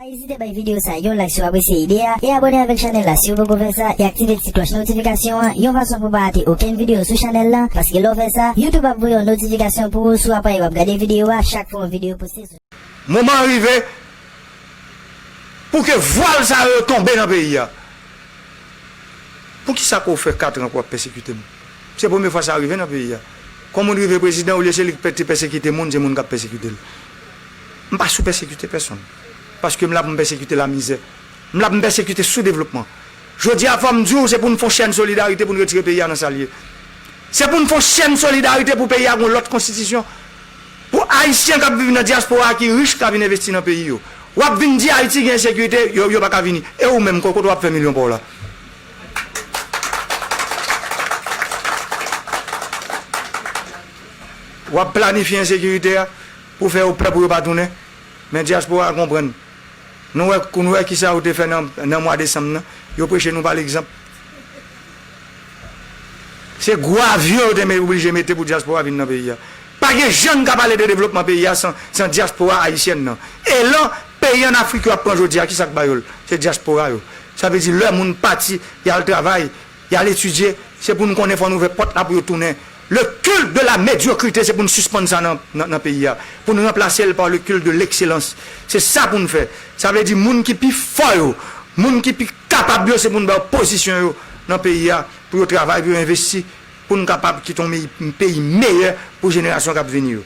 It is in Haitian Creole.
Pa ezite bay videyo sa yon like si w apresye ide a e abone avèk chanèl la si w poko fè sa e aktive ti klòch notifikasyon an yon fason pou w pa rate okenn videyo sou chanèl lan paske lè w fè sa YouTube ap voye yon notifikasyon pou ou sou aparèy w ap gade videyo a chak fwa yon videyo poste sou Moman an rive pou ke vwal sa yo tonbe nan peyi a. Poukisa ke w fè katran pou w ap pèsekite m? Se premye fwa sa rive nan peyi a. Kon moun rive prezidan olye se li k te pèsekite moun se moun k ap pèsekite l. M pa sou pèsekite pèsonn. Paske m la pou m pèsekite lamizè. M la pou m pèsekite soudevlopman. Jodi a fò m di w se pou n fon chèn solidarite pou n retire peyi a nan sa l ye. Se pou n fon chèn solidarite pou peyi a gen yon lòt konstitisyon. Pou ayisyen k ap viv nan dyaspora a ki rich ka vin envesti nan peyi yo. W ap vin di Ayiti gen ensekirite yo yo pa ka vini. E ou menm kot w ap fè milyon pa w la? Wap planifye ensekirite a pou fè yo pè pou yo pa tounen men diaspora a konprann nou wè nou wè kisa yo te fè nan mwa desanm nan yo preche nou pa l'exanp se gwo avyon yo te oblije mete pou diaspora vin nan peyi a Pa gen jan n ka pale de devlopman peyi a san dyaspora ayisyèn nan. Elan peyi ann Afrik yo ap pran jodi a, ki sa k ba yo l? Se dyaspora yo. Sa vle di lè moun pati, y al travay, y al etidye, se pou nou konnen fò n ouvè pòt la pou yo tounen. Le culte de la médiocrité se pou n sispann sa nan peyi a, pou n ranplase l par le culte de l'excellence. Se sa pou n fè. Sa vle di moun ki pi fò yo, moun ki pi kapab yo se pou n ba yo pozisyon yo nan peyi a pou yo travay, pou yo envesti Pou n kapab kite yon peyi meyè pou jenerasyon k ap vini yo.